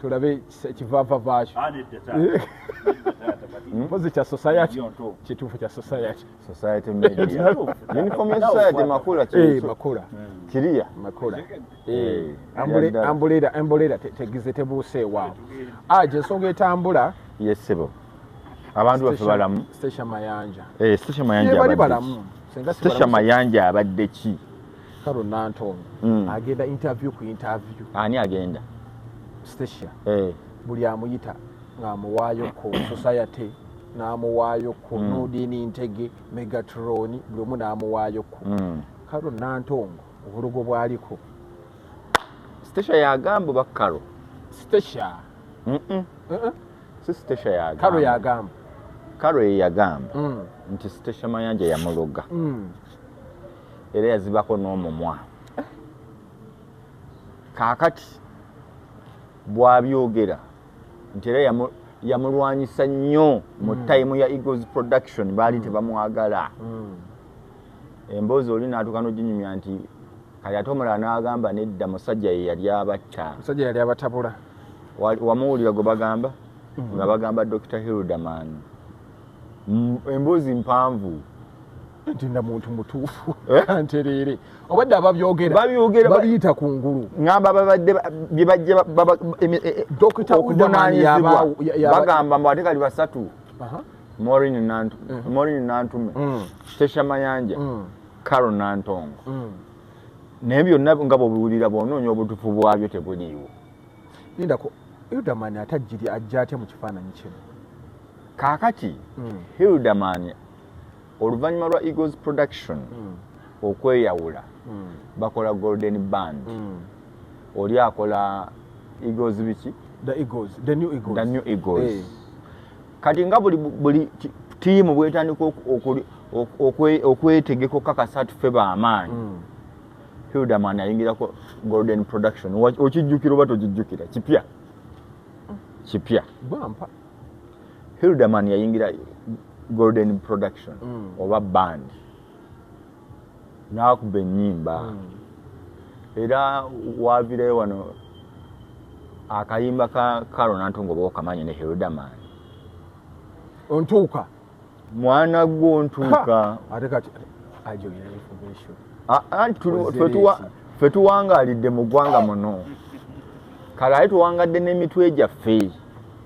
tulabe kivava vakyo ah, hmm? mpozi kya society kituufu kya society society media uniform ya society makula eh, kituufu makula hmm. kiriya makula eh, eh, ambule ambulera ambulera tegize tebuse wa aje ah, songa etambula yes sebo abantu bafe balamu station mayanja eh station mayanja abadde station mayanja abadde ki karo nantono mm. agenda interview ku interview ani agenda stacia hey. Eh. buli amuyita ng'amuwaayo ku society n'amuwaayo ku mm. nudini ntege megatroni buli omu n'amuwaayo ku mm. karo nantongo obulogo bwaliko stacia yagamba oba karo stacia mm -mm. uh -uh. si stacia yagamba karo yagamba karo yeyagamba mm. nti stacia mayanja yamuloga mm. era yazibako n'omumwa kaakati bwabyogera nti era yamulwanyisa nnyo mu hmm. time ya eagles production baali hmm. tebamwagala hmm. emboozi oli naatuka noginyumya nti kati ate omulala n'agamba nedda musajja ye yali abatta musajja yali abatabula wamuwulira gwe bagamba nga bagamba dr hilderman emboozi mpanvu ntinda muntu mutuufu eh? kantereere obadde ababyogerababiyita ku ngulu ngamba babadde byebajja okuvunaanyizibwabagamba mbu ate kali basatu morin mm. nantume mm. tesha mayanja mm. caro nantongo naye byonna nga bwebiwulira bwonoonya obutufu bwabyo tebuliiwo lindako hildaman ate ajjiri ajja atya mu kifaananyi kino kaakati hildaman oluvannyuma lwa eagles production mm. okweyawula mm. bakola golden band mm. oli akola eagles biki the eagles the new eagles, the new eagles. Hey. Eh. kati nga buli buli tiimu bwetandika okwetegeka okukakasa tufe bamaanyi mm. hildaman ayingirako golden production okijjukira oba tokijjukira kipya kipya hilderman yayingira golden production mm. oba band nakuba enyimba mm. era wavirayo wano akayimba ka karo nantongo oba okamanyi ne hilderman ontuuka mwana gwo ntuuka ate kati ajoyina information ah, ah, ffe tuwangalidde mu ggwanga muno kale aye tuwangadde n'emitwe gyaffe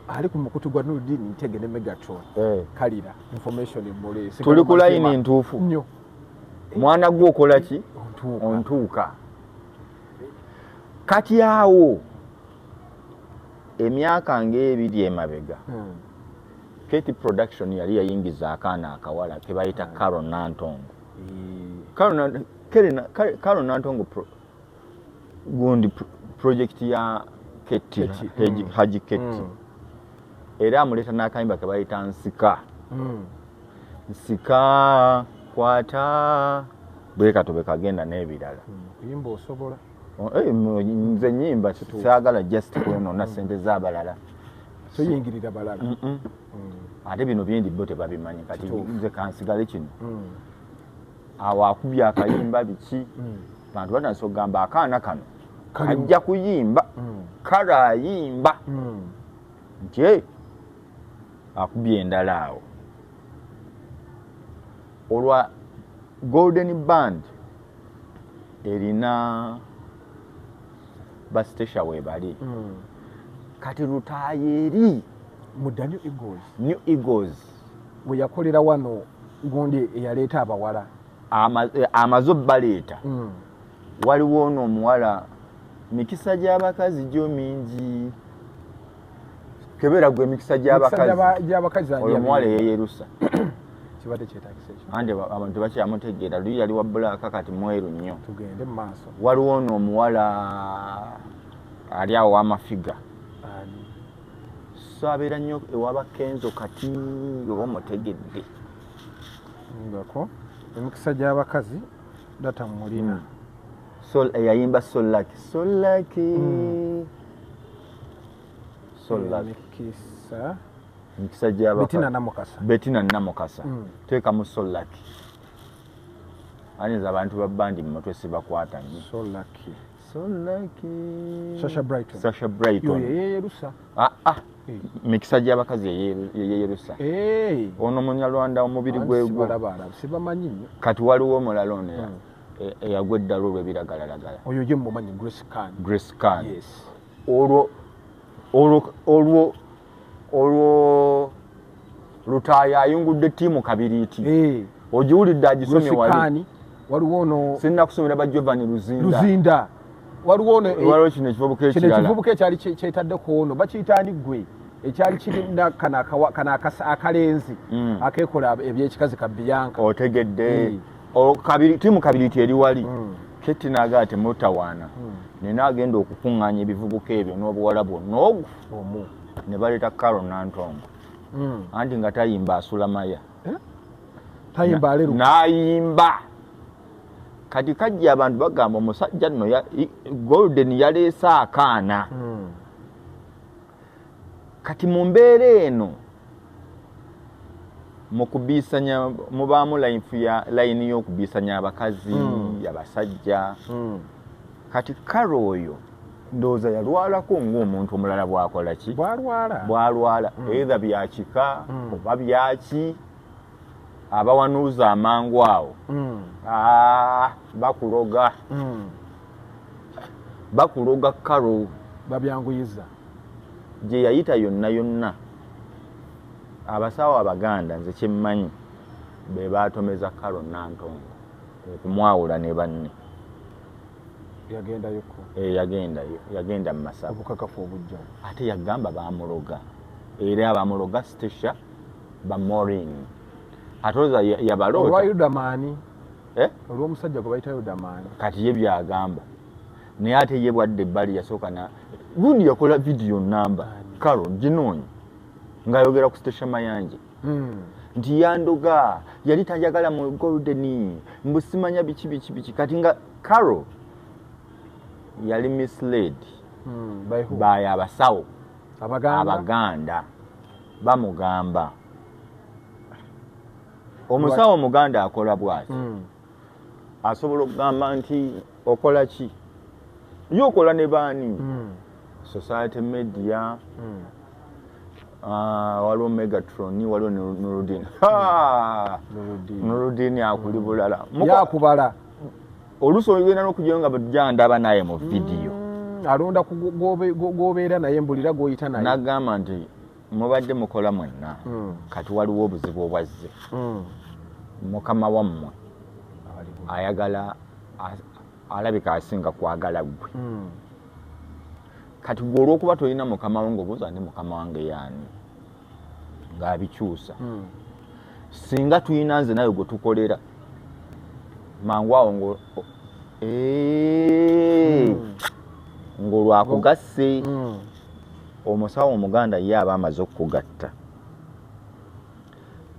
ali ku mukutu gwa nudin ntege ne megatron eh. kalira information emule tuli ku layini ntuufu nyo mwana gwo okola ki ontuuka kati awo emyaka ng'ebiri emabega hmm. Katie production yali yayingiza akaana akawala kebayita mm. Carol Nantongo. Mm. Carol Nantongo, Carol, Carol, Carol Nantongo pro, gundi pro, project ya Katie, Katie. Haji, mm. Haji Katie. Mm. Era amuleta nakayimba kebayita Nsika. Mm. Nsika, kwata, bweka tubeka genda nebirala. Mm. Kuyimba osobola. Eh, nze nyimba sagala just kwenona mm. sente zabalala toyingirira balala mm. ate bino byendi bo tebabimanyi kati nze kansigale kino mm. awo akubye akayimba biki bantu batandisa okugamba akaana kano kajja kuyimba kale ayimba nti eh, akubye endala awo olwa golden band erina basitesha webali mm. kati lutaaya eri mudda new eagles new eagles weyakolera wano gundi eyaleeta abawala eh, amaze obbaleeta mm. waliwo ono omuwala mikisa gy'abakazi gyo mingi kebera gwe mikisa gy'abakazi gy'abakazi oyo mwale yeyerusa kibadde kyetagisa ekyo ande abantu bakya mutegeera luyi yali wa black kati mweru nnyo tugende mu maaso waliwo ono omuwala ali awo amafiga so abeera nnyo ewaba kenzo kati oba omutegedde ngako emikisa gy'abakazi data mulina hmm. so eyayimba solaki solaki mm. emikisa emikisa gyabetina namukasa betina namukasa mm. teekamu solaki ayinza abantu babandi mu mutwe sibakwata nyo solaki solaki sasha brighton sasha brighton yeyerusa ah ah mikisa gy'abakazi eyeyerusa ono munyarwanda omubiri gwegwo kati waliwo omulala ono hmm. e, eyagwa eddalu olwebiragalalagala oyo ye mumanyi grace can grace can yes olwo olwo olwo olwo lutaaya ayungudde ttiimu kabiriiti eh. ogiwulidde agisomye wali waliwo ono sinna kusomera ba giovanni luzinda luzinda waliwo ono eh, waliwo kino ekivubuka ekirala kino ekivubuka ekyali kyetadde ku ono bakiyita ani gwe ekyali kirina kana akalenzi mm. akekola ebyekikazi ka biyanka otegedde mm. oh, kabiri timu kabiri teri wali mm. keti naga ate mutawana mm. nina agenda okukunganya ebivubuka ebyo n'obuwala bwonna ogu omu ne baleeta karo nantongo mm. anti nga tayimba asula maya eh? tayimba aleru nayimba kati kajja abantu bagamba omusajja nno golden yaleese akaana mm. kati mu mbeera eno mu kubiisanya mubaamu layini y'okubiisanya abakazi hmm. abasajja hmm. kati karo oyo ndowooza yalwalako ngaomuntu omulala bwakola ki bwalwala bwalwala hmm. eitha byakika oba byaki abawanuuza amangu awo mm. ah, bakuloga mm. bakuloga karo babyanguyiza gye yayita yonna yonna abasawo abaganda nze kyemmanyi be baatomeza karo nantongo okumwawula ne banne yagendayo eh, yagenda mu masabukakafu obujja ate yagamba bamuloga era abamuloga stasha ba Maureen atoza yabalo olwa Yudamani eh olwa musajja gwe bayita Yudamani kati ye byagamba naye ate ye bwadde bali yasooka na gundi yakola video namba karo ginoonyi ng'ayogera ku station mayanje hmm. nti yandoga yali tajagala mu golden mbusimanya biki biki biki kati nga karo yali misled hmm, by abasawo abaganda bamugamba omusawo omuganda akola bwati hmm. asobola okugamba nti okola ki ye okola ne baani hmm. society media hmm. ah, waliwo megatron waliwo nurudin nurudin akuli bulala yakubala oluusi oyogenda nokujayo nga jandaba naye mu vidiyo mm, alonda gobeera naye mbulira goyita naye nagamba nti mubadde mukola mwenna mm. kati waliwo obuzibu obwazze mm. mukama wammwe ayagala alabika asinga kwagala gwe kati gwe olwokuba tolina mukama wo ngaobuuza ndi mukama wange yaani ng'abikyusa hmm. singa tulina nze nawe gwe tukolera mangu awo ngo eh, hmm. ng'olwakugasse hmm. omusawo omuganda ye aba amaze okukugatta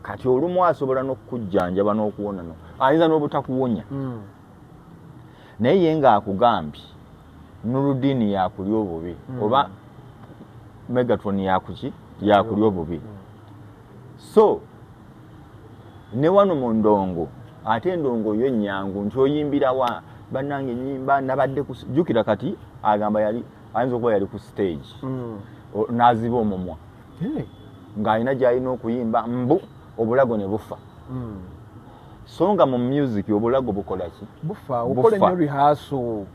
kati olumu asobola n'okukujjanjaba n'okuwonano ayinza n'obutakuwonya naye ye ng'akugambye nurudini yakulya obubi hmm. oba megatron yakuki yakulya obubi hmm. so ne wano mu ndongo ate endongo yo enyangu nti oyimbirawa bannange enyimba nabadde kujukira kati agamba yali ayinza okuba yali ku stage hmm. naziba omumwa ng'alina gyalina okuyimba mbu obulago ne bufa hmm. so nga mu music obulago bukola ki bufa okola nnyo rehearsal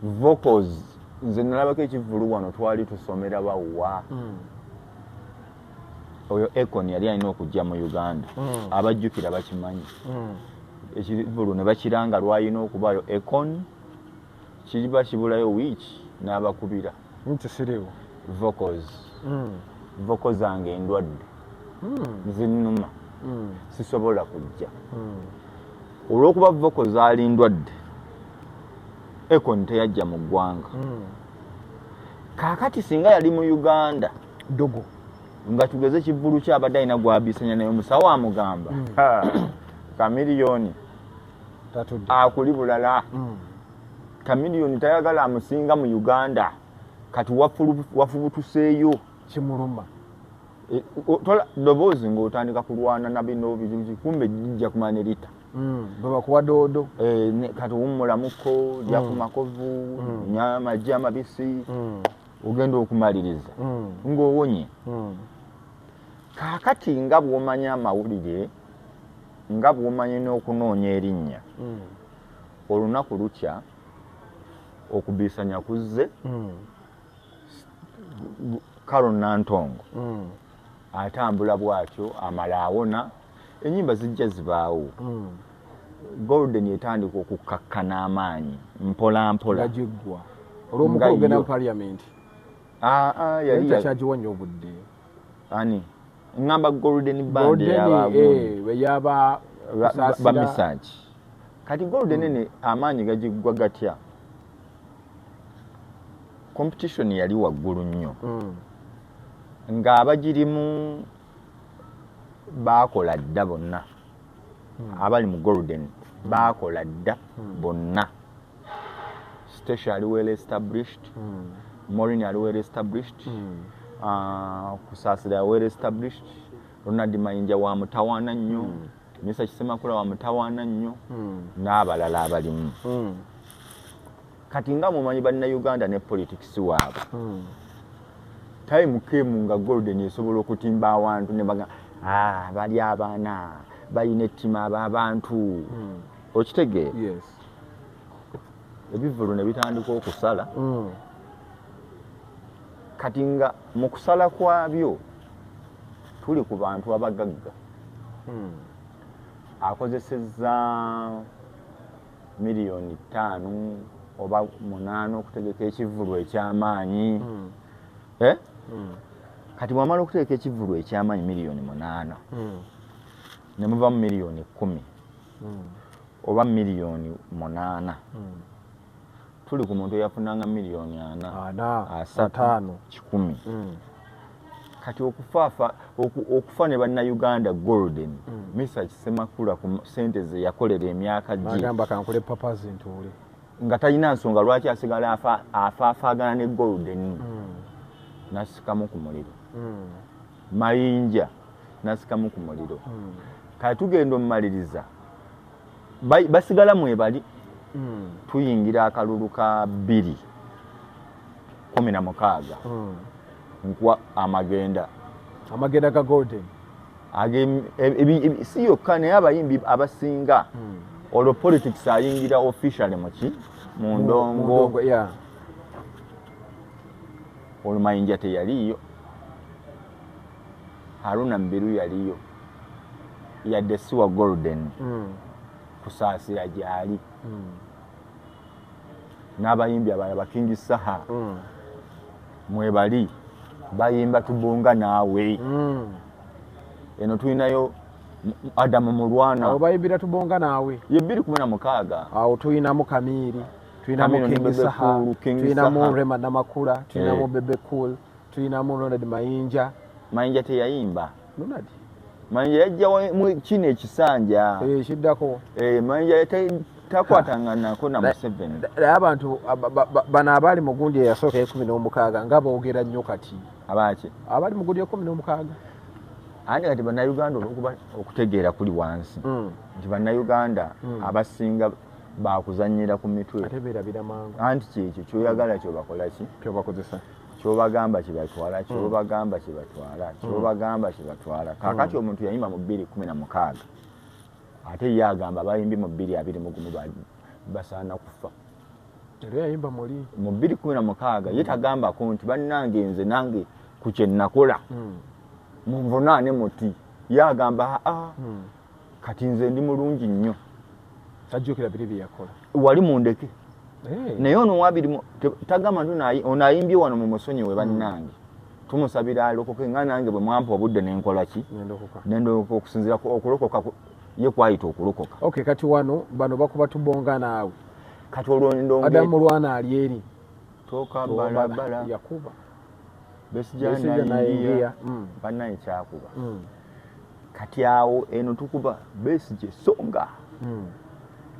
vocals nze nalabako ekivulu wano twali tusomera bawa hmm. oyo econ yali alina okujja mu uganda hmm. abajjukira bakimanyi hmm. ekivulu ne bakiranga lwalina okubaayo econ kiba kibulayo wiiki n'abakubira nti siriwo vocals mm. voko zange endwadde mm. zinuma mm. sisobola kujja mm. olwokuba voko zaali ndwadde ekon teyajja mu ggwanga mm. kakati singa yali mu uganda dogo nga tugeze kivulu kyabadde alina gwabisanya naye omusawo amugamba mm. kamiliyoni akuli bulala mm. kamiliyoni tayagala amusinga mu uganda kati wafubutuseeyo kimuluma e, doboozi ngaotandika kulwana nabino bizuzi kumbe jija kumanya erita mm, bwebakuwa doodo e, kati wumulamuko mm. jakumakovu mm. nyamaji amabisi ogenda okumaliriza ngaowonye kakati nga bwomanya amawulire nga bwomanya n'okunoonya erinnya olunaku lukya okubiisanya kuzze mm. caron nantongo mm. atambula bwatyo amala awona enyimba zijja zibaawo mm. golden etandika okukkakkana amaanyi mpolampola olwomukulugenda mu paliamenti ah, ah, yali yakyagiwa nyo obudde ani ngamba golden band yaba eh, bamisanji kati golden hmm. ene amaanyi gagigwa gatya competition yali waggulu nnyo hmm. ng'abagirimu baakola dda bonna hmm. abali mu golden baakola dda bonna Stecia ali well established mm. Morin ali well established mm. uh, Kusasira well established Ronald Mayinja wa mutawana nnyo mm. Mr Kisemakula wa mutawana nnyo mm. n'abalala abalimu mm. kati nga mumanyi banna Uganda ne politics waabo mm. time kemu nga golden esobola okutimba awantu ne baga ah bali abaana bayina ettima abantu mm. okitegeera yes. ebivulu ne bitandika okusala mm. kati nga mu kusala kwabyo tuli ku bantu abagagga mm. akozeseza miliyoni ttaano oba munaana okutegeka ekivulu ekyamaanyi mm. eh? mm. kati bwamala okutegeka ekivulu ekyamaanyi miliyoni munaana mm. ne muva mu miliyoni kkumi hmm. oba miliyoni munaana hmm. tuli ku muntu eyafunanga miliyoni ana asatu kikumi hmm. kati okufaafa okufa ne bannayuganda golden misa kisemakula ku sente ze yakolera emyaka gyagamba kankole papa zintuule nga talina nsonga lwaki asigala afaafaagana ne golden nasikamu ku muliro mayinja nasikamu ku muliro hmm. kati tugenda omumaliriza basigala mwebali hmm. tuyingira akalulu ka bbiri kumi na mukaaga hmm. nkuwa amagenda amagenda ga golden si yokka naye abayimbi abasinga olwo politics ayingira officially muki mu ndongo olumayinja teyaliiyo haruna mbiru yaliyo yadde siwa golden mm. kusaasira gyali mm. n'abayimbi abala bakingi saha mm. mwebali bayimba tubunga naawe mm. eno tulinayo adamu mulwana awo bayimbira tubonga naawe ye bbiri kumi na mukaaga awo tulinamu kamiiri tulinamu King Saha, tulinamu Rema Namakula, tulinamu eh. Bebe Cool, tulinamu Ronald Mayinja. Mayinja teyayimba. Ronald. Mayinja yajja mu kino ekisanja. Eh, kiddako. Eh, Mayinja takwatang'anako na Museveni. Naye abantu bano abaali mu gundi eyasooka ekumi n'omukaaga nga boogera nnyo kati. Abaaki? Abaali mu gundi ekumi n'omukaaga. Ani kati bannayuganda olwokuba okutegeera kuli wansi mm. nti bannayuganda mm. abasinga bakuzanyira ku mitwe ate berabira mangu anti kyekyo kyoyagala kyobakolaki kyobakozesa kyobagamba kyebatwala hmm. kyobagamba kyebatwala hmm. kyobagamba kyebatwala hmm. kakati omuntu yayimba mu bbiri kumi na mukaaga ate ye agamba bayimbi mu bbiri abiri mugumu basaana kufa mu bbiri kumi na mukaaga ye tagambako nti bannange nze nange ku kyenakola munvunaane muti ye agamba aa ah, kati nze ndi mulungi nnyo tajjukira biri bye yakola wali mundeke eh. naye ono wabiri tagamba nti ono ayimbye wano mu musonyiwe hmm. bannange tumusabira alokoke nga nange bwe mwampa obudde nenkola ki nendokoka okusinzira okulokoka ye kwayita okulokoka ok kati wano bano bakuba tubonga naawe kati olwondongeadamu lwana ali eri toka balabala yakuba besijanaingiya mm. banaye kyakuba mm. kati awo eno tukuba besije songa mm.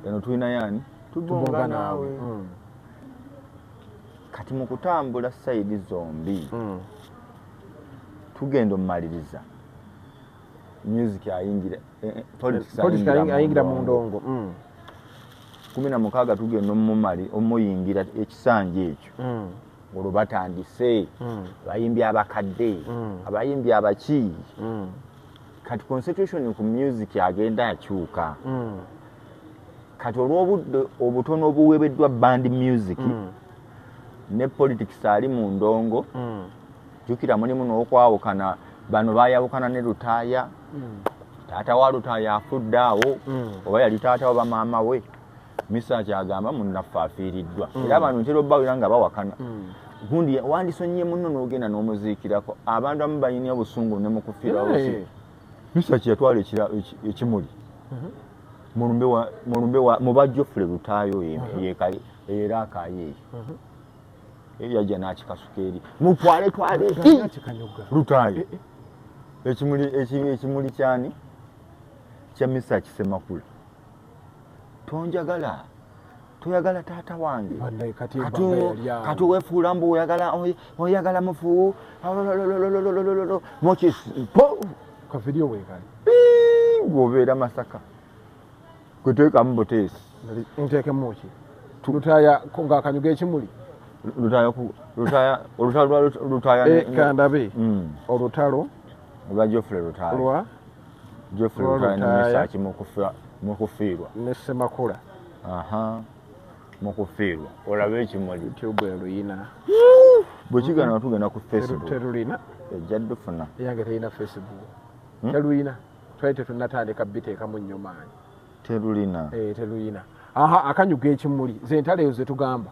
eno tulina yani tubonga nawe kati mu kutambula sayidi zombi tugenda omumaliriza music ayingira eh, eh, politics ayingira mu ndongo kumi na mukaaga tugenda omumali omuyingira ekisanja ekyo olwo batandise mm. abayimbi abakadde mm. abayimbi abaki mm. kati constitution ku music agenda akyuka mm. kati olwobudde obutono obuwebeddwa band music mm. ne politics ali mu ndongo mm. jukira mulimu n'okwawukana bano bayawukana ne lutaaya mm. taata wa lutaaya afudde awo mm. oba yali taata wa bamaama we Misa kyagamba munnaffe afiiriddwa mm. era abantu ntera obbawera nga bawakana mm. gundi wandisonyiye munno n'ogenda n'omuziikirako abantu amu balina obusungu ne mu kufiira osi misa kyeyatwala ekimuli mm-hmm. mu bajjofule lutaayo mm-hmm. era akaayo eyo mm-hmm. eyo yajja n'akikasuka eri mutwale twale lutaayo eh, eh. ekimuli kyani kya misa kisemakula tonjagala toyagala taata wange kati wefuula mbu oyagala mufu mokisgobeera masaka kwetekamu buteesi ntekemuki lutaya nga akanyuga ekimuli olutalo lwa geoffrey lutaya Geoffrey Lutaaya ne Mesach Mukufiirwa ne Ssemakula mu kufiirwa olabe ekimuli bwe kigana nga tugenda ku facebook ejja dufuna eyange terina facebook hmm? teruyina twali tetunatandika biteekamu nnyo maanyi teruyina eh, teruyina aha akanyuga ekimuli zentalo eyo zetugamba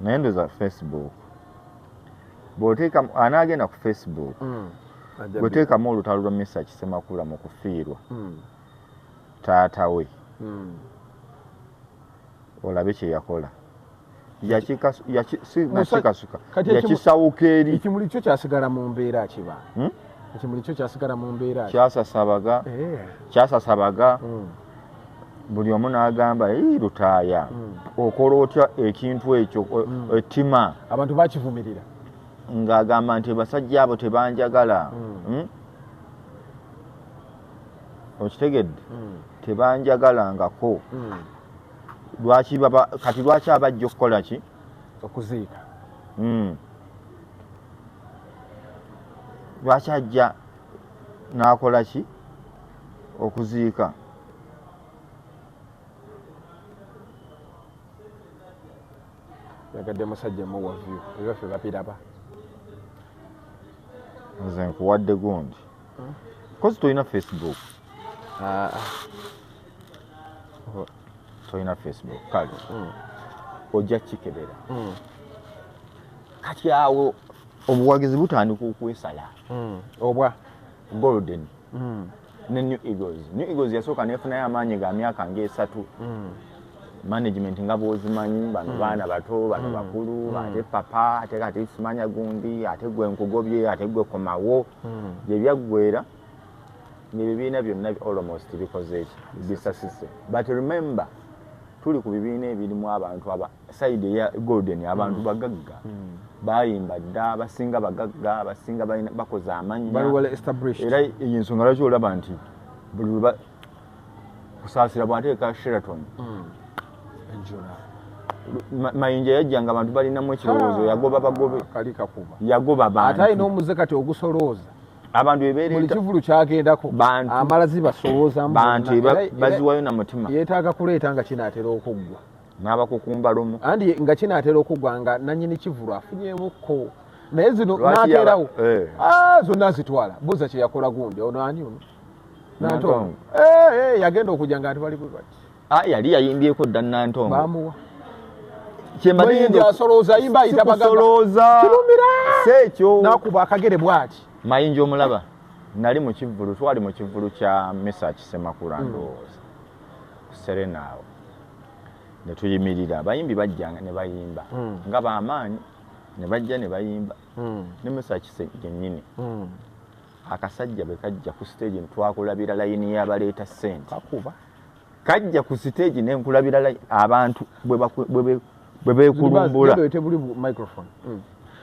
naye ndoza facebook bwoteeka ani agenda ku facebook mm. bweteekamu olutalo lwa misa kisemakula mu kufiirwa mm. taata we mm. olabe kyeyakola yakikasuka yakisawuka eri ekimuli kyo kyasigala mu mbeera kiba hmm? ekimuli kyo kyasigala mu mbeera kyasasabaga eh. kyasasabaga hmm. buli omu n'agamba ii lutaaya hmm. okola otya ekintu ekyo ettima abantu bakivumirira ng'agamba nti basajja abo tebanjagala okitegedde tebanjagalangako lwaki baba kati lwaki abajja okukola ki okuziika hmm. lwaki ajja n'akola ki okuziika yagadde musajja muwavyu ebaffe bapiraba nze nkuwadde gundi hmm? kozi tolina facebook ah, ah. tolina facebook kale hmm. ojja kukikebera hmm. kati awo obuwagizi butandika okwesala hmm. obwa golden ne new eagles new eagles yasooka nefunayo amaanyi ga myaka ngaesatu management nga bwozimanyi bano hmm. baana bato bano hmm. bakulu hmm. ate papa ate kati simanya gundi ate gwe nkugobye ate gwe komawo gyebyaggwera nebibiina byonna almost bikozeeki bisasise but remember tuli ku bibiina ebirimu abantu aba side eya golden abantu mm. bagagga mm. bayimba dda abasinga bagagga abasinga bakoze amannya era eyo ensonga lwaki olaba nti buli weba kusaasira bwateeka sheraton mm. mayinja yajjanga abantu balinamu ekirowoozo ah, yagoba bagobe yagoba bantu ate alina omuze kati ogusolooza abantu ebeereta kivulu kyagendako amala zibasowoza bantu baziwayo na mutima yeetaaga kuleeta nga kinaatera okuggwa n'abakukumba lumu andi nga kinaatera okuggwa nga nanyini kivulu afunyemukko naye zino nateerawo eh. ah, zonna zitwala buza kyeyakola gundi ono ani ono nantongo eh, eh, yagenda okujja nga ati bali bwe bati Ah, yali yayimbyeko dda nantongo kyembasoloozaimbaitabagambasoloozaekyonakuba akagere bwati mayinja omulaba nali mukivulu twali mukivulu kya misa kisemakula hmm. ndowooza kuserena awo netuyimirira abayimbi bajjanga nebayimba hmm. nga bamaanyi nebajja nebayimba hmm. ne misa kise genyini akasajja bwe kajja ku siteegi ntwakulabira layini y'abaleeta ssente kakuba kajja ku siteegi ne nkulabira abantu bwe beekulumbula hmm.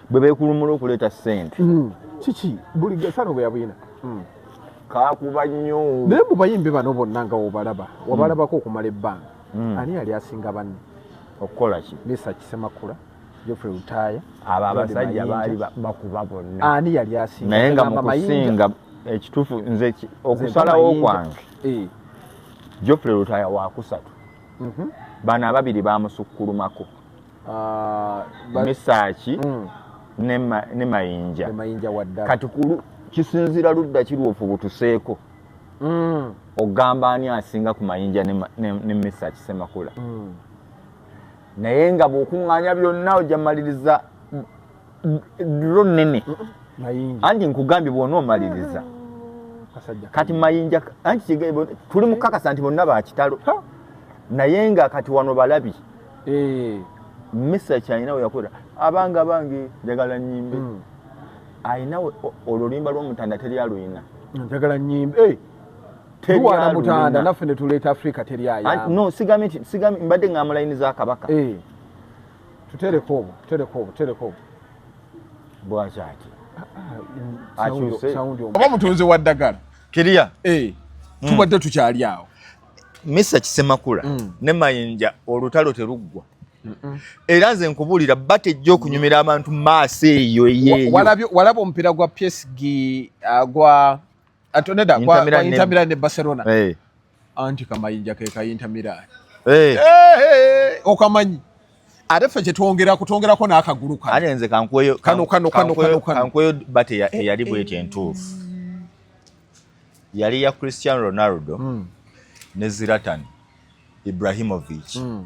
bwe beekulumbula okuleeta ssente hmm. kiki buli gasano bwe yabuyina hmm. kakuba nnyo naye mu bayimbi bano bonna nga wobalaba wabalabako okumala ebbanga ani yali asinga banne okukola ki misa kisemakula Geoffrey Lutaaya abo abasajja baali bakuba bonna ani yali asinga naye nga mukusinga ekituufu nze okusalawo kwange eh. Geoffrey Lutaaya wakusatu mhm. bano ababiri bamusukkulumako ah, misaaki mm. ne mayinja kati kisinzira ludda kirwofu butuseeko mm. ogamba ani asinga ku mayinja ne misaaki semakula mm. naye nga bwokuŋŋaanya byonna ojja maliriza dro nnene anti nkugambye bwona omaliriza kati mayinja anti tuli mukakasa nti bonna bakitalo naye nga kati wano balabi eh. misa kyalina weyakolera abanga bange njagala nyimbe hmm. alina olulimba lwomutanda teri aluyina njagala nyimbe eh. tuwaana mutanda naffe ne tuleeta afrika teri ayano sigambye nti sigambye mbadde ngamba layini za kabaka eh. tutereko obwo tutereko obwo tutereko obwo bwakyaki ah, ah, oba mutunzi wa ddagala kiriya eh, hmm. tubadde tukyali awo misa kisemakula hmm. ne mayinja olutalo teruggwa era nze nkubuulira batejja okunyumira abantu maaso eyo eyeyo walaba omupiira gwa psg uh, gwa atoneda kwa Inter Milan ne Barcelona hey. Eh. anti kamayinja ke ka Inter Milan hey. Eh. Eh, hey, hey, okamanyi ate ffe kyetwongera kutwongerako n'akagulu kano ate nze kankweyo kano kano kano kano kankweyo bate eyali bwetyo entuufu yali ya Cristiano Ronaldo mm. ne Zlatan Ibrahimovic mm.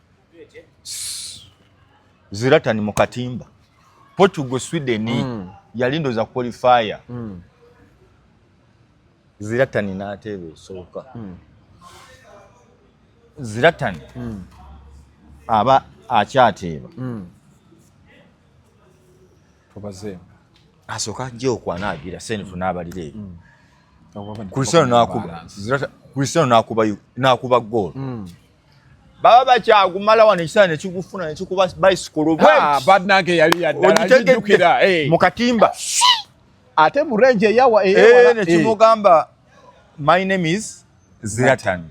Zlatan mu katimba Portugal Sweden mm. yali ndoza qualifier mm. Zlatan n'ateeba esooka mm. Zlatan mm. aba akyateeba mm. tubaze asooka ajja okwanaagira senfu n'abalira ebyo mm. Cristiano n'akuba Cristiano n'akuba n'akuba goal mm. baba bakyagumala wano ekisaa nekigufuna nekikuba bicycle banange yali yaddalaijukira mu katimba ate mu range eyawa eh, nekimugamba my name is zlatan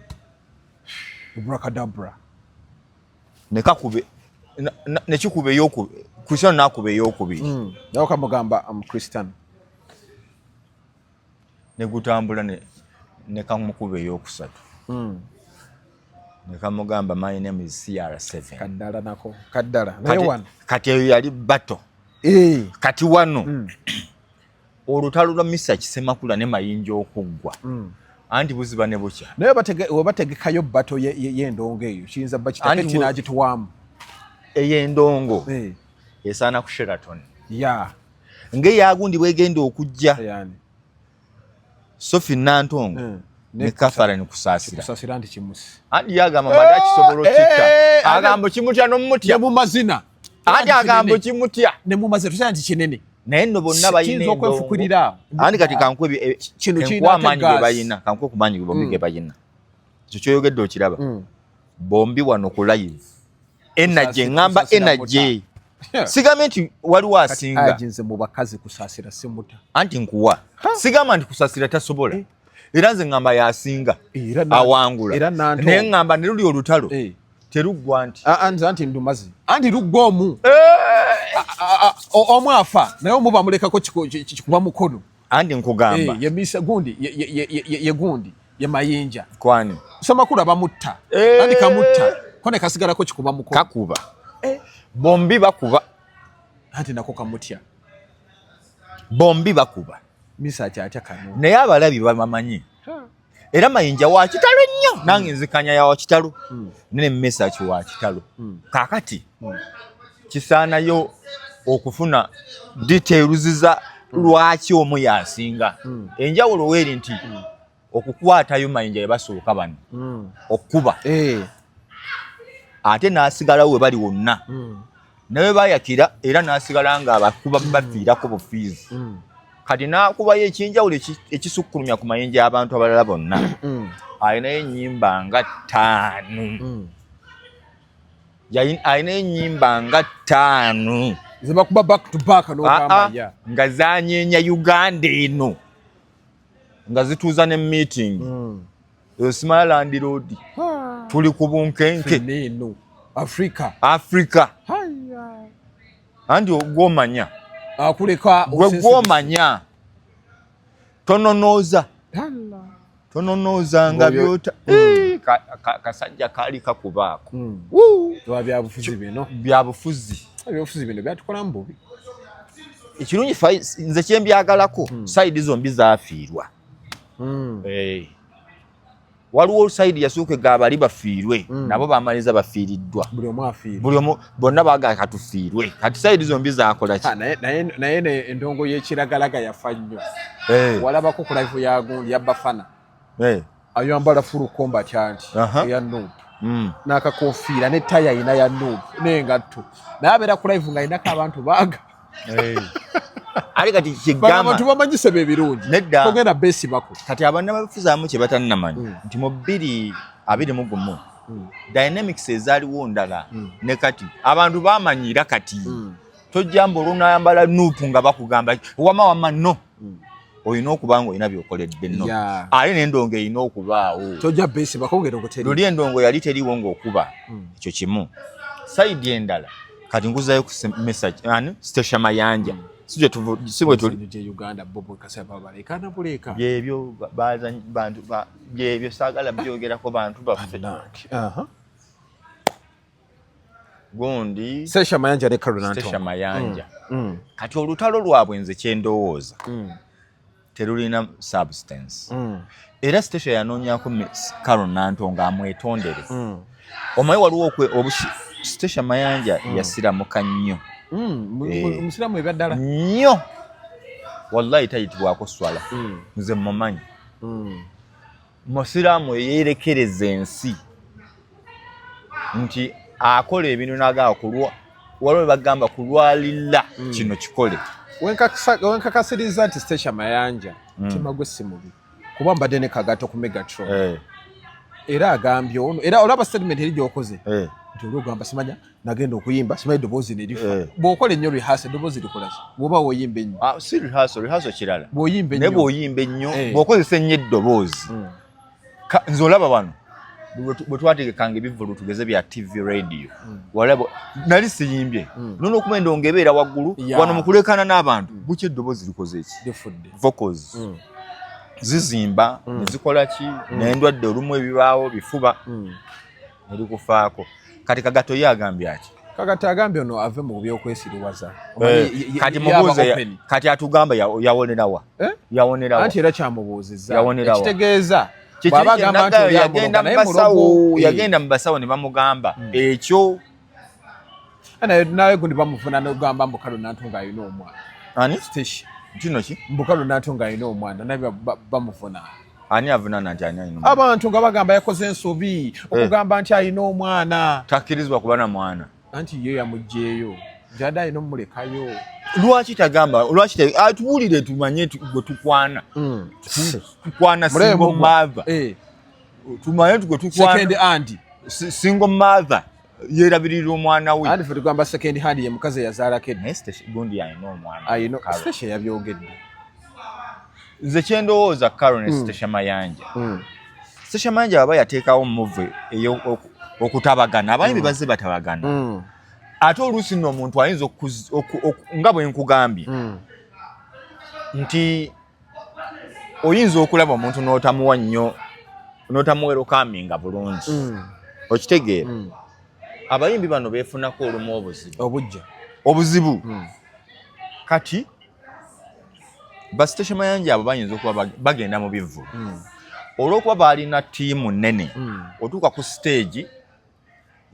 brakadabra nekakube nekikuba eyokubiri kristiano nakuba eyokubiri hmm. nawe kamugamba am kristiano ne gutambula ne ne kamukuba eyokusatu hmm. ne kamugamba my name is CR7 kaddala nako kaddala naye wano kati eyo yali bato eh. kati wano hmm. olutalo lwa Mr Kisemakula ne mayinja okuggwa hmm. anti buziba ne bukya naye webategekayo bato y'endongo eyo kiyinza bba kitaketi n'agituwaamu ey'endongo eh. esaana ku Sheraton ya nga eyagundi bwegenda okujja sofi nantongo eh, ne katharine kusasira andi yagamba mbadde akisobola eh, okikka eh, agambo kimutya nomumutya mu mazina andi agambo kimutya ne mu mazina tusaa nti kinene naye no bonna bayina okwefukirira andi kati kankwe kino kiyina amaanyi ge bayina kankwe ku maanyi ge bombi ge mm. bayina ekyo kyoyogedde okiraba mm. bombi wano ku live energy ngamba energy sigamba nti waliwo asinga nze mu bakazi kusasira simuta anti nkuwa sigamba nti kusasira tasobola eh. era nze ngamba yasinga awangula naye ngamba ne luli olutalo eh. teruggwa nti ah, ah, nze anti ndumazi anti luggwa omu eh. ah, omu afa naye omu bamulekako kikuba mukono andi nkugamba eh, ye misa gundi ye ye ye ye ye gundi ye mayinja kwani soma kula bamutta eh. andi kamutta kone kasigala ko kikuba muko kakuba eh. bombi bakuba andi nako kamutya bombi bakuba misa acha acha kanu naye abalabi bamanyi era mayinja wa kitalo nnyo hmm. nange nzikanya ya wa kitalo hmm. nene mesaki wa kitalo hmm. kakati kisaanayo okufuna details za lwaki omu yasinga enjawulo weeri nti okukwatayo mayinja yebasooka bano okukuba eh. ate n'asigalawo we bali wonna nawe bayakira era nasigala nga abakuba mm. bafiirako bufiizi mm. kati nakubayo ekyenjawulo ekisukkulumya ku mayinja y'abantu abalala bonna mm. alinayo enyimba nga ttaanu alinayo enyimba nga ttaanu zebakuba back to back ah, ah, nga zanyenya uganda eno nga zituuza ne meeting mm. eyo simala landiroodi ah. tuli ku bunkenke eno afrika afrika anti ogwomanya akuleka gwe gwomanya tononooza tononooza nga byota mm. eh, kasajja kaali kakubaako mm. byabufuzi bino byabufuzi bino byatukolamu bubi ekirungi nze kyembyagalako hmm. sayidi zombi zafiirwa hmm. eh. waliwo sayidi yasooka egaba bali bafiirwe hmm. nabo bamaliza bafiiriddwa buli omu bonna bagaa katufiirwe kati sayidi zombi zakolaki ah, naye endongo yekiragalaga yafa nnyo eh. walabako kulaifu yagundi yabafana hey. Eh. ayambala fulu komba kyanti uh -huh. eya nup mm. nakakofiira ne taya ayina ya nup nengatto naye abeera ku live nga ayinako abantu baga hey. ali kati kyegamantu bamanyise bebirungi nedda togenda besibako kati abanna babifuzaamu kye batannamanya mm. nti mu bbiri abiri mu gumu mm. dynamics ezaaliwo ndala mm. ne kati abantu bamanyira kati mm. tojjamba olunayambala nupu nga bakugamba wama wama no mm. olina okuba nga olina byokoledde no ate nendongo erina okubaawo luli endongo yali teriwo ngaokuba mm. ekyo kimu saidi endala kati nguzayo ku message ani stacia mayanja mm. byebyo bantu byebyo sagala byogerako bantu baffe gundi Sesha Mayanja ne Karuna Ntongwa. Sesha Mayanja. Mm. Mm. Kati olutalo lwabwe nze kyendowooza. Mm. Terulina substance. Mm. Era Sesha yanoonyako Karuna Ntongwa amwetondere. Mm. Omaye waliwo okwe obusi Sesha Mayanja mm. yasiramuka nnyo. Mm. Eh. Musiramu ebya ddala. Nnyo. Wallahi tayitibwako swala. Mm. Nze mumanyi. Mm. musiraamu eyeerekereza ensi nti akola ebintu nagamba kulwa waliwo webagamba kulwalilla hmm. kino kikole wenkakasiriza nti stasha mayanja hmm. mutima gwe si mubi kuba mbadde ne kagato ku megatron eh. era agambye ono era olaba statement eri gyokoze eh. nti oli ogamba simanya nagenda okuyimba simanyi eddoboozi ne lifa eh. bw'okola ennyo rehearsal eddoboozi likola ki bw'oba woyimba ennyo ah, si rehearsal rehearsal kirala bw'oyimba ennyo naye bw'oyimba ennyo eh. bw'okozesa ennyo eddoboozi hmm. nze olaba wano bwe twategekanga ebivulu tugeze bya tv radio hmm. walaba nali siyimbye hmm. nono okuba endongo ebeera waggulu wano mu kuleekaana n'abantu bukya eddoboozi likoze ki vocals zizimba ne zikola ki n'endwadde olumu ebibaawo bifuba mulikufaako kati kagato ye agambye ati kakati agambye ono ave mu byokwesiriwaza eh, kati mubuuze kati atugamba yawonerawa eh? yawonerawa anti era kyamubuuzizza yawonerawa ekitegeeza bwaba agamba nti yagenda mu basawo ne bamugamba hmm. ekyo Ana nawe gundi bamufuna no gamba mbukalo nantunga yino omwa. Ani station. Kino ki? Mbukalo nantunga yino omwa nawe bamufuna. Ani avuna nanti ani yino. Abantu nga bagamba yakoze ensobi eh. okugamba nti ayino omwana. Takirizwa kubana mwana. Anti ye yamujjeyo. Jada yino mulekayo. Lwaki tagamba lwaki atubulire ah, tumanye gwe tukwana. Mm. Tukwana singo mava. Eh. Tumanye gwe tukwana. Second aunt. Singo mava. yerabirira omwana we andi fetugamba second hand ye mukazi eyazaalako edgundi alina omwanastecia yabyogedde nze kyendowooza caro ne stecia hmm. mayanja hmm. stecia mayanja aba yateekawo move okutabagana abayimbi hmm. bazze batabagana ate oluusi nno omuntu ayinza nga bwe nkugambye nti oyinza okulaba omuntu n'otamuwa nnyo n'otamuwerokaminga bulungi mm. okitegeera mm. abayimbi bano beefunako olumu obuzibu obujja obuzibu mm. kati basiteshe mayanja abo bayinza okuba bagenda mu bivvulu olw'okuba baalina ttiimu nnene otuuka ku siteegi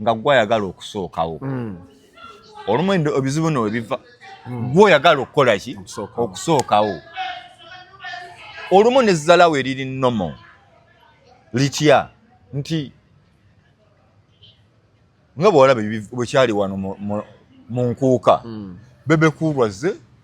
nga gwe ayagala okusookawo mm. olumu ebizibu no webiva mm. gwe oyagala okukola ki okusookawo olumu nezzalawo eriri nomo litya nti nga bwolaba bwekyali wano mu nkuuka mm. bebekuulwazze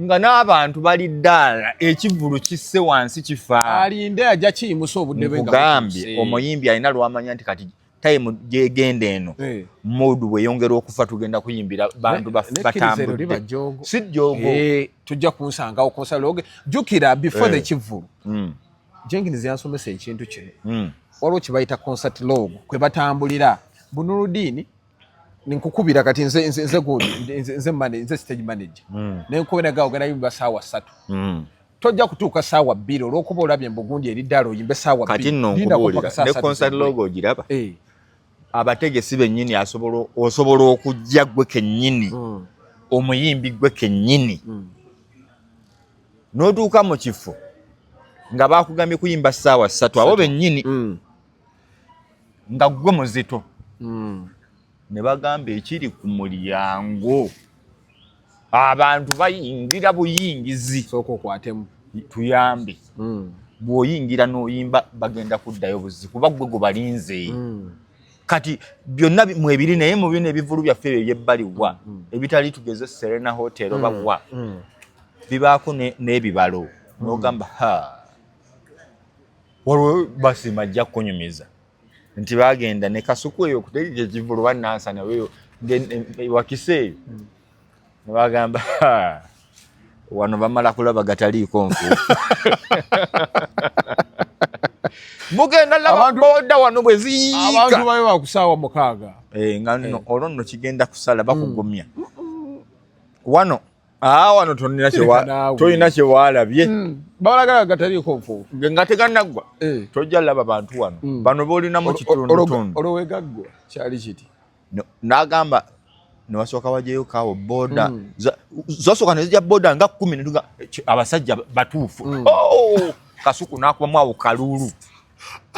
nga n'abantu bali ddaala ekivulu kisse wansi kifa alinde ajja kiyimusa obudde bwe ngagambye omuyimbi alina lwamanya nti kati time gyegenda eno eh. mood weyongera okufa tugenda kuyimbira bantu batambudde si jogo eh, tujja kunsangawo konsaloge jukira before the eh. kivulu mm. jenginizi yansomesa ekintu kino mm. waliwo kyebayita concert log kwe batambulira bunuludiini nkukubira kati nze nze nze gundi nze nze mane nze stage manager mm. ne nkubira ga ogana yimba sawa satu mm. tojja kutuuka sawa bbiri olwokuba olabye mbu gundi eri ddala oyimbe sawa kati nno nkubulira ne concert logo ogiraba hey. Eh. abategesi bennyini asobola osobola okujja gwe kennyini mm. omuyimbi gwe kennyini mm. n'otuuka mu kifo nga bakugambye kuyimba saawa ssatu abo bennyini mm. nga gwe muzito hmm. ne bagamba ekiri ku mulyango abantu bayingira buyingizi sooka okwatemu tuyambe hmm. bw'oyingira n'oyimba bagenda kuddayo buzi kuba gwe gwe balinze hmm. kati byonna mwebiri naye mu bino ebivulu byaffe ebyo ebyebbali wa ebitali tugeze serena hotel oba wa bibaako n'ebibalo n'ogamba ha waliwo basima ajja kukunyumiza nti bagenda ne kasuku eyo okutegeka ekivulu banansana eyo wakisa eyo hmm. nebagamba wano bamala kulaba gataliiko nfu mugenda lababoda wano bwe ziyiikabantu babe bakusaawa mukaaga eh, nga eh. olwo nno kigenda kusala bakugumya hmm. wano Ah, wano tolina kyewaalabye hmm. balagala gataliiko nfuufu nga teganaggwa eh. tojja laba bantu wano hmm. bano boolina mu kitundutundu olowegaggwa kyali kiti nagamba newasooka wajeyo kawo boda hmm. zasooka nezija boda nga kumi netuga abasajja batuufu oh, kasuku nakubamu awo kaluulu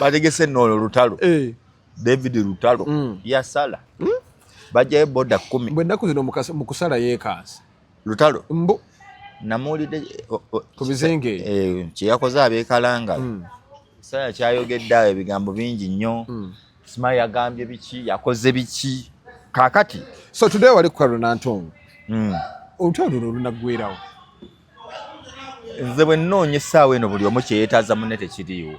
bategese noolo olutalo eh. david lutalo mm. yasala mm? bajayo boda kumi bwenaku zino mukusala yekansi lutalo mbu namuwulidde ku bizinga ebyo eh, kyeyakoze abekalangala mm. saya kyayogedde awo ebigambo bingi nnyo mm. sima yagambye biki yakoze biki kakati so today wali ku karonantongo mm. olutalo luno olunaggwerawo nze bwe nnoonya essaawa eno buli omu kyeyetaaza munne tekiriiwo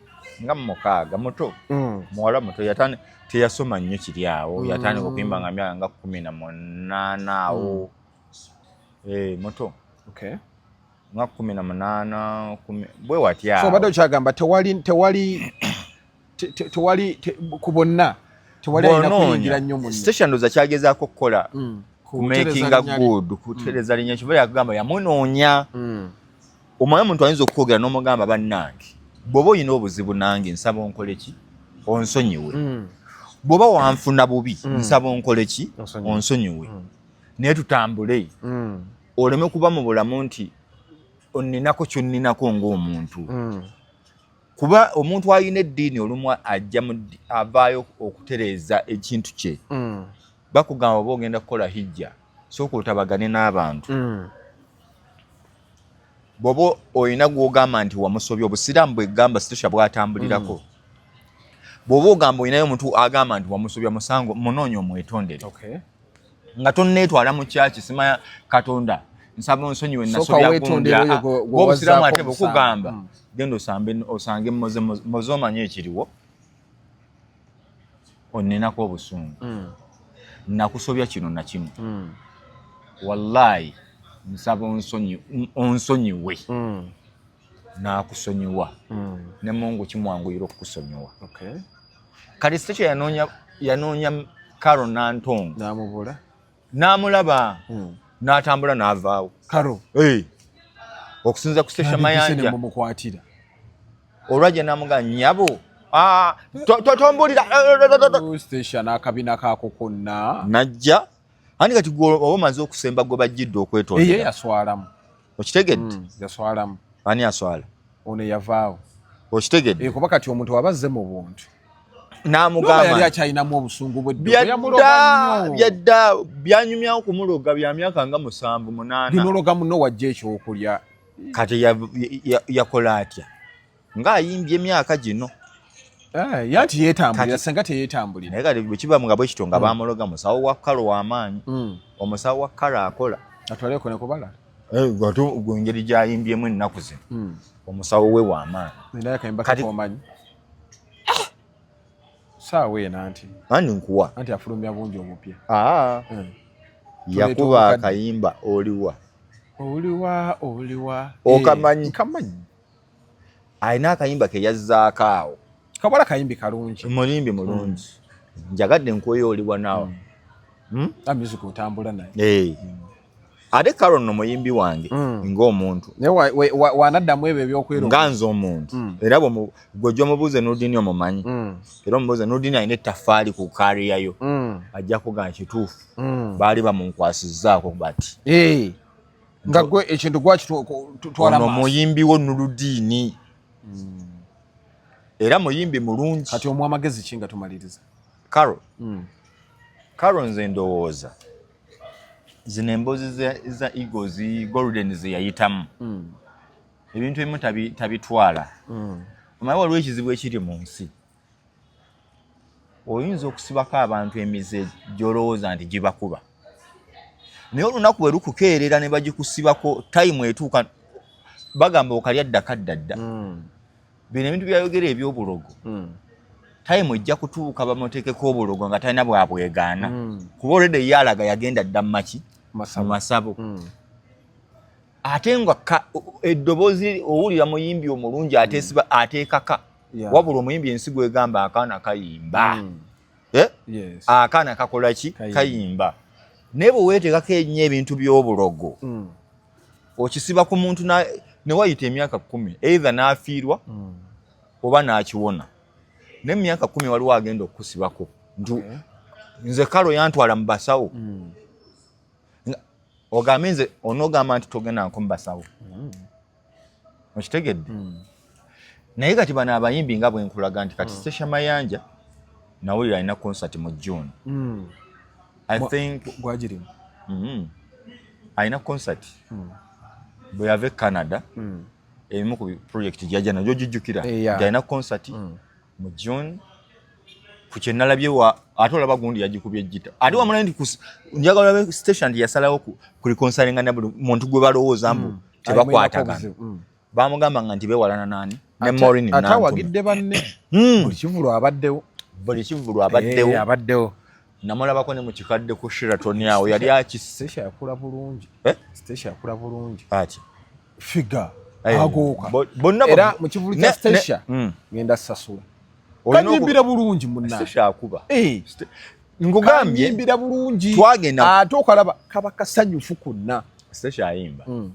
nga mumukaaga muto mm. muwala muto yatani teyasoma nnyo kiri awo mm. yatandika okuyimba nga myaka nga kumi na munaana awo mm. eh, muto okay. nga kumi na munaana bwe watya so obadde okyagamba tewali tewali tewali ku bonna tewali alina kuyingira nnyo munne station ndoza kyagezaako okukola mm. kumakinga good kutereza linya kiba yakugamba yamunoonya mm. omwana omuntu ayinza okukwogera n'omugamba bannange bw'oba olina obuzibu nange nsaba onkole ki onsonyiwe mm. bw'oba wanfuna bubi mm. nsaba onkole ki onsonyiwe mm. naye tutambule oleme kuba mu bulamu nti onninako kyonninako ng'omuntu kuba omuntu alina eddiini olumu ajja avaayo okutereeza ekintu kye bakugamba oba ogenda kukola hijja sooka otabagane n'abantu bwoba olina gwogamba nti wamusobya obusiraamu bwegamba situsha bwatambulirako mm. bwoba ogamba olinayo omuntu agamba nti wamusobya musango munoonya omwetondere nga tonneetwala mu kyaki simanya katonda nsaba onsonyiwe nasobyaobusiraamu ate bwekugamba mm. genda osange moze omanye ekiriwo onenako obusungu mm. nakusobya kino nakimu mm. wallahi nsaba onsonyiwe mm. nakusonyiwa mm. ne mungu kimwanguyira okukusonyiwa okay. kati sitekyo yanoonya yanoonya karo nantongo namubula n'amulaba hmm. n'atambula n'avaawo karo okusinza kusesha mayanja olwajja namuga nyabo ah, totombulira n'akabina kaako konna najja ani kati oba omaze okusemba gwe bajjidde okwetondera yaswalamu okitegedde mm, yaswalamu ani aswala ono yavaawo okitegedde eh, kuba kati omuntu waba azze mu buntu namugamba akyalinamu obusungu bwebyadda byanyumya okumuloga bya myaka nga musanvu munaana nologa muno wajja ekyokulya kati yakola atya nga ayimbye emyaka gino eh, yanti yetambulira senga teyetambulira naye kati bwekiba nga bwekityo nga mm. bamuloga musawo wa kalo wamaanyi mm. omusawo wa kalo akola atwaleko nekubala eh, ngeri gyayimbyemu ennaku zino mm. omusawo we wamaanyi saawa eno anti anti nkuwa anti afulumya bungi omupya ah. eh. yakuba akayimba oliwa oliwa oliwa okamanyi eh, kamanyi alina akayimba ke yazzaako awo kabala kayimbi kalungi mulimbi mulungi hmm. njagadde nkweyo oli wanaawa hmm. hmm? music otambula naye eh. ate karo no muyimbi wange ng'omuntu wanaddamu ebyo ebyokwera nga nze omuntu era gwejja omubuuze nudini omumanyi era omubuuze nudini alina ettafaali ku kariyayo ajja kuga nkituufu baali bamunkwasizzaako bati eh. nga gwe ekintu gwakitwalaono muyimbi wo nuludiini hmm. era muyimbi mulungi kati omu amagezi ki nga tumaliriza caro hmm. caro nze ndowooza zino emboozi za eagles golden zeyayitamu hmm. ebintu ebimu tabitwala omanyi waliwo ekizibu ekiri mu nsi oyinza okusibako abantu emize gyolowooza nti gibakuba naye olunaku bwe lukukeerera ne bagikusibako tayimu etuuka bagamba okalya ddaka ddadda hmm. bino ebintu byayogera ebyobulogo hmm. tayimu ejja kutuuka bamuteekeko obulogo nga talina bwabwegaana hmm. kuba olede ye alaga yagenda dda mumaki mu masabo ate nga eddoboozi owulira muyimbi omulungi ateekaka yeah. wabula omuyimbi ensigo egamba akaana kayimba mm. eh? yes. akaana kakola ki kayimba naye bwe weetekako ennyo ebintu by'obulogo mm. okisiba ku muntu ne wayita emyaka kkumi eitha n'afiirwa mm. oba n'akiwona naye mu myaka kkumi waliwo agenda okukusibako nti okay. nze kalo yantwala mu basawo mm. ogambe nze onogamba nti togenda nko mu basawo mm. okitegedde hmm. naye kati bano abayimbi nga bwenkulaga nti kati hmm. sesha mayanja nawulira alina concert mu june hmm. i think gwagirimu mm-hmm. alina concert bwe yava e canada ebimu ku project gyajja najo gijjukira gyalina eh, concert mu June ku kye nalabye wa ate olaba gundi yagikubye jita ate mm. wamulaye nti njagala olabe station nti yasalawo ku reconcilinga ne buli muntu gwe balowooza mbu mm. tebakwatagana mm. bamugamba nga nti bewalana nani ne Maureen Nantume ate awagidde banne hmm. buli kivulu abaddewo buli kivulu abaddewo eh, abaddewo namulabako ne mu kikadde ku Sheraton awo yali akisse station yakula bulungi eh? station yakula bulungi ati figa eh, agooka bonna era mu kivulu kya stacia mm. ngenda sasula kanyimbira bulungi munakuba eh. ngugambyeimbira bulungi twagenda ate okalaba kaba kasanyufu konna stacia ayimba mm.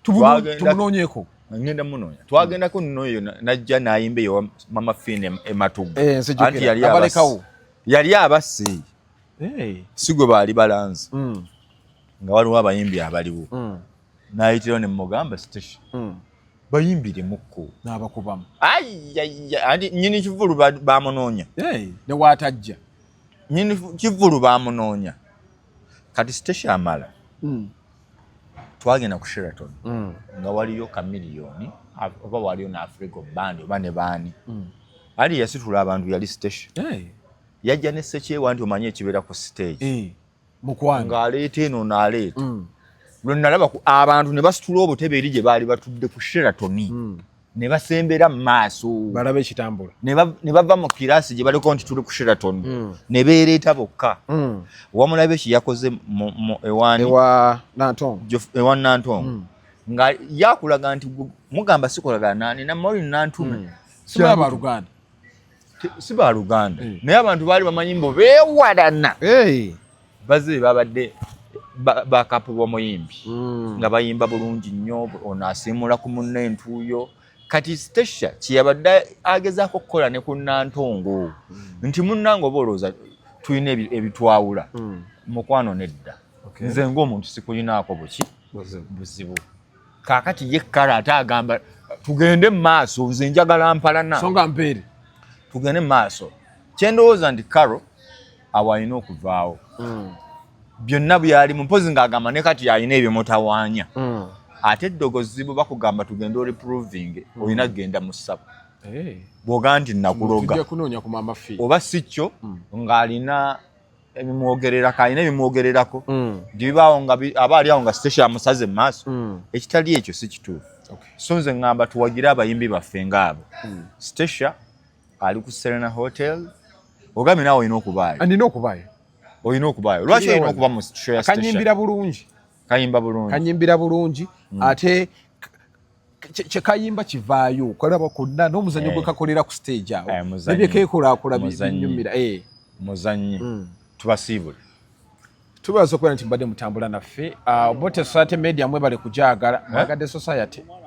tumunoonyeko ngenda munonya twagendako noyo najja nayimba eyo mama fine ematuga eh, anti yali abalekawo yali abasi sigwe baali balanzi mm. nga waliwo abayimbi abaliwo mm. nayitirawo ne mugamba station hmm. bayimbire mukko nabakubamu anti nyini kivulu bamunoonya newatajja nyini kivulu bamunoonya kati station amala hmm. twagenda ku sheraton hmm. nga waliyo kamiliyoni oba waliyo ne africa bandi oba ne baani ali yasitula abantu yali station yajja ne sekyewa nti omanyi ekibeera ku stage eh. mukwano ng'aleeta eno naaleeta mm. lwe nalaba abantu ne basitula obutebe eri gye baali batudde ku sheratoni mm. ne basembera mu maaso balaba ekitambula ne bava mu kiraasi gye baliko nti tuli ku sheratoni mm. ne beereeta bokka wamulaba eki yakoze ewa nantongo nga yakulaga nti mugamba sikolagana nani namoli nantume sibaluganda si ba luganda eh. naye abantu baali bamanyi mbu bewalana eh. baze babadde bakapu b'omuyimbi hmm. nga bayimba bulungi nnyo ono asiimula ku munna entuuyo kati stecia kyeyabadde agezaako okukola ne ku nantongo hmm. nti munnange oba olowooza tulina ebitwawula hmm. mukwano nedda nze ngaomuntu sikulinaako buki buzibu kaakati ye kale ate agamba tugende mu maaso nze njagala mpalana so nga mpeere tugende mu maaso kyendowooza nti karo awo alina okuvaawo mm. byonna byali mumpozi ng'agamba ne kati alina ebyomutawaanya mm. ate eddogozi bwe bakugamba tugende oli proving mm. olina kugenda mu ssabo eh. bw'oga nti nakuloga oba si kyo mm. ng'alina ebimwogererako alina ebimwogererako mm. bibaawo nga aba ali awo nga sitesha amusaze mu maaso mm. ekitali ekyo si kituufu so nze ŋŋamba tuwagire abayimbi baffe ngaabo mm. sitesha ali ku serena hotel ogambye naawe olina okubaayo andina okubaayo olina okubaayo lwaki olina okuba mu kanyimbira bulungi kayimba bulungi kanyimbira bulungi ate kyekayimba kivaayo kalaba konna n'omuzannyo eh. gwe kakolera ku stage awo eh, nebye keekulaakula binyumira eh. muzannyi hmm. tubasiibule tubaza okubeera nti mbadde mutambula naffe ah, obote society media mwebale kujaagala mwagadde society